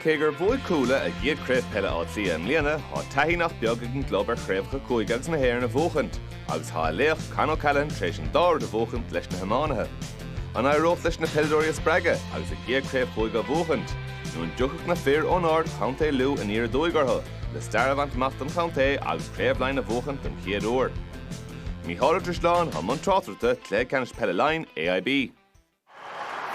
Cé gur bhuaigh Cuala a gcéad chraobh peile Átha Cliath i mbliana, tá taithí nach beag ag an gclub ar chraobhacha cúige agus na hÉireann a bhuachaint agus tá a laoch, Con O'Callaghan, tar éis an dá rud a bhuachaint leis na hiománaithe. An éireodh leis na peileadóirí a spreagadh agus a gcéad chraobh chúige a bhuachaint nó an dtiocfadh na fir ón Ard Chontae Lú aniar aduaidh orthu le stair a bhaint amach don chontae agus Craobh Laighean a bhuachaint don chéad uair? Mícheál Ó Drisleáin, i mbun tráchtaireachta, Cluiche Ceannais Peile Laighean, AIB.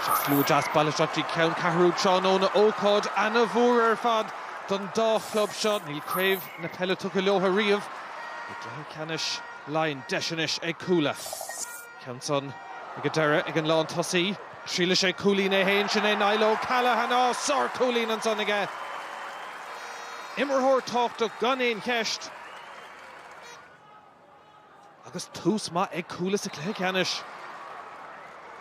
Slua deas bailithe isteach dtí ceanncheathrú tráthnóna, ócáid ana-mhór ar fad don dá chlub seo. Níl craobh na peile tugtha leotha riamh i gcluiche ceannais Laighean. Deis anois ag Cuala. Ceann san ag an deireadh ag an lán tosaí. Triailfidh sé cúilín é fhéin. Sin é Niall O'Callaghan. Á! Sár chúilín ansan aige. Imreoir tábhachtach gan aon cheist. Agus tús maith ag Cuala sa chluiche ceannais.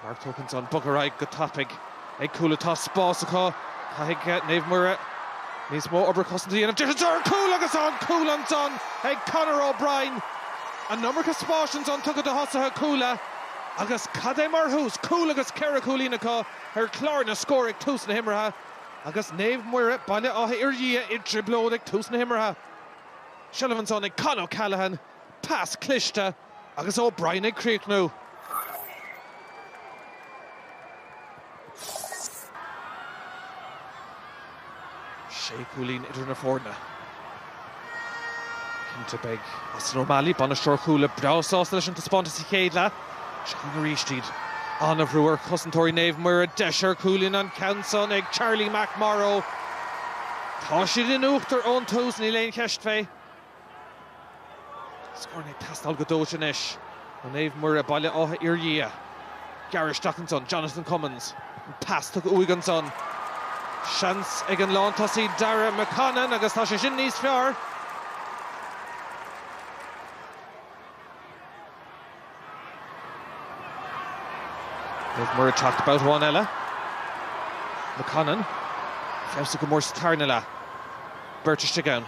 Marc tógtha ansan, bogtha ar aghaidh go tapaidh ag Cuala. Tá spás acu. Caithfidh Naomh Muire níos mó obair cosanta a dhéanamh. Deis anso ar chúl agus tá an cúl ansan ag Conor O'Brien. An iomarca spáis ansan tugtha do thosaithe Chuala agus cad é mar thús, cúl agus ceithre chúilín acu ar chlár na scór ag tús na himeartha agus Naomh Muire, Baile Átha Fhirdhia i dtrioblóid ag tús na himeartha. Seilbh ansan ag Con O'Callaghan, pas cliste agus O'Brien ag críochnú. Sé chúilín idir na foirne. Cinnte beidh Austin O'Malley, bainisteoir Chuala, breá sásta leis an taispeántas sa chéad leath. Seo chugainn aríst iad, ana-bhrú ar chosantóirí Naomh Muire, deis ar chúilín, an ceann san ag Charlie McMorrow. Tá siad in uachtar ón tús, níl aon cheist fé. Scóranna ag teastáil go dóite anois ó Naomh Muire, Baile Átha Fhirdhia. Gearradh isteach ansan, Jonathan Commins, an pas tugtha uaidh ansan. Seans ag an lántosaí Dáire McConnon agus tá sé sin níos fearr. Naomh Muire ag teacht babhta amháin eile. McConnon, feabhsaithe go mór sa tarna leath. Beirt istigh ann.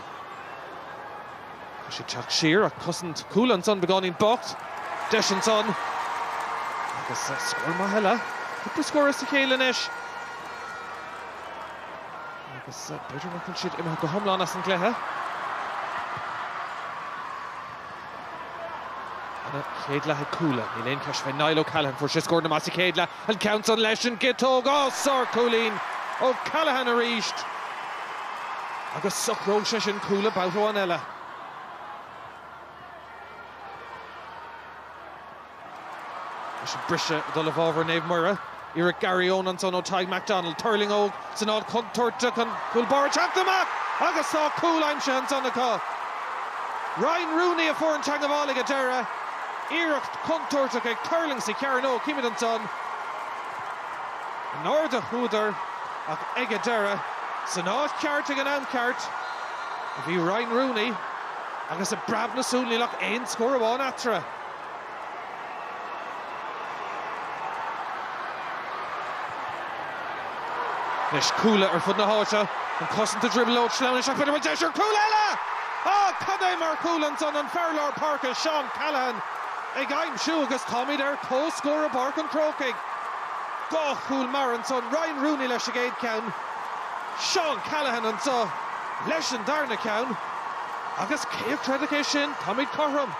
Tá sé ag teacht siar ach cosaint Chuala ansan, beagáinín bocht deis ansan agus scór maith eile. Cúpla scór as a chéile anois agus b'fhéidir nach bhfuil siad imithe go hiomlán as an gcluiche. Ana-chéad leath ag Cuala. Níl aon cheist fé Niall O'Callaghan. Fuair sé scóranna maithe sa chéad leath. An ceann san leis an gciotóg. Á, sár cúilín O'Callaghan arís. Agus socróidh sé sin Cuala babhta amháin eile. Anois an briseadh ag dul i bhfabhar Naomh Muire, iarracht Garryowen ansan ó Tadhg McDonnell, tuirlingeoidh san áit chontúirteach an cúl báire ag teacht amach agus tá cúl aimsithe ansan acu. Ryan Rooney a fuair an teagmháil ag an deireadh, iarracht chontúirteach ag tuirling sa chearnóg, chímid ansan in airde a chuadar ach ag an deireadh, san áit cheart ag an am ceart a bhí Ryan Rooney agus i bpreab na súl níl ach aon scór amháin eatarthu. Anois Cuala ar fud na háite, an chosaint i dtrioblóid, sleamhnú isteach, b'fhéidir bhfuil deis ar chúl eile! Á, cad é mar chúl ansan an fear lár páirce Seán Callaghan ag aimsiú agus táimid ar comhscór i bPáirc an Chrócaigh. Dhá chúl mear ansan, Ryan Rooney leis an gcéad cheann, Seán Callaghan anseo leis an darna ceann agus cé a chreidfeadh é sin? Táimid cothrom.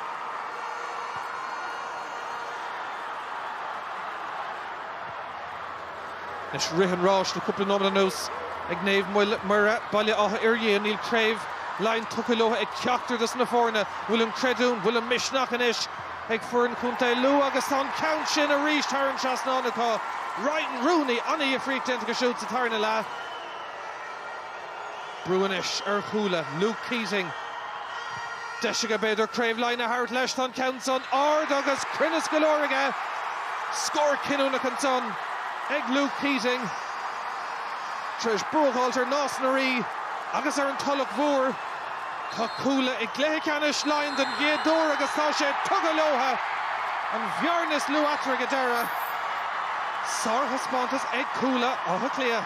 Anois rith an ráis le cúpla nóiméad anuas ag Naomh Muire, Baile Átha Fhirdhia. Níl craobh Laighean tugtha leotha ag ceachtar dos na foirne. Bhfuil an creidiúint, bhfuil an misneach anois ag foireann Chontae Lú agus tá an ceann sin arís thar an trasnán acu? Ryan Rooney, ana-dhifríocht déanta acu siúd sa tarna leath. Brú anois ar Chuala, Luke Keating. Deis aige b'fhéidir Craobh Laighean a thabhairt leis. Tá an ceann san ard agus cruinneas go leor aige. Scór cinniúnach ansan ag Luke Keating. Tar éis bua a fháilt ar Nás na Ríogh agus ar an Tulach Mhór, tá Cuala i gcluiche ceannais Laighean den gcéad uair agus tá sé tugtha leotha. An bhearna is lú eatarthu ag an deireadh. Sárthaispeántas ag Cuala Átha Cliath.